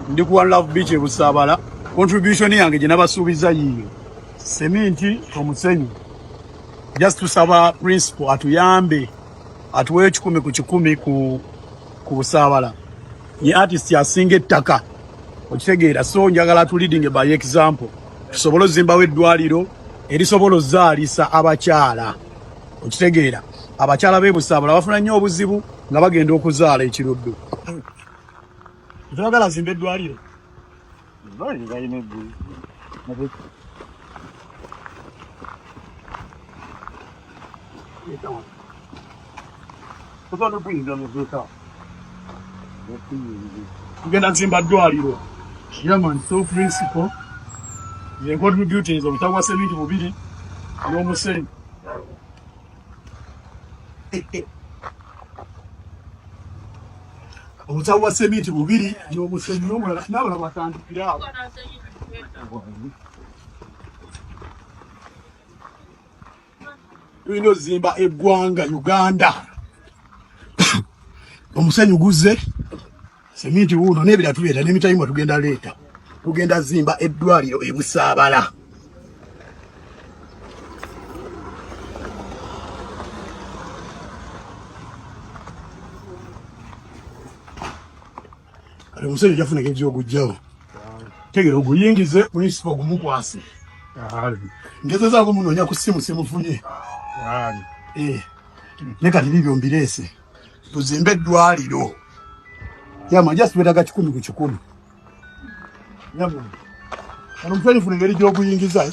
ndi ku one love beach ebusaabala contribution yange gye nabasuubiza yiyo seminti omusenyu just tusaba principal atuyambe atuwe ekikumi ku kikumi ku ku busaabala ye artist asinga ettaka okitegeera so njagala tu leading by example tusobole ozimbawo eddwaliro erisobola ozaalisa abakyala okitegeera abakyala b'ebusaabala bafuna nnyo obuzibu nga bagenda okuzaala ekiruddu Ntwagala azimbe eddwaliro. Eddwaliro balina eggulu. Kutono bwinza mu duka. Tugenda kuzimba ddwaliro. Yaman, so principle. Yenkontri beauty ezo mutagwa seminti bubiri n'omusenyu. obusawo bwa seminti bubiri nomusenyi nomulala nabala batandikira awo tulina ozimba eggwanga uganda omusenyi guzze seminti wuuno n'ebira tuleeta n'emitayimwa tugenda leeta tugenda zimba eddwaliro e Busaabala kati omusajja jafuna engeri gy'ogujjawo tegera oguyingize munisipa ogumukwase ngezezaako munoonya ku simu simufunye eh, ne kati bibyo mbireese tuzimbe eddwaliro yama just betaga kikumi ku kikumi yama ano mutwalifu nengeri gy'okuyingiza eh?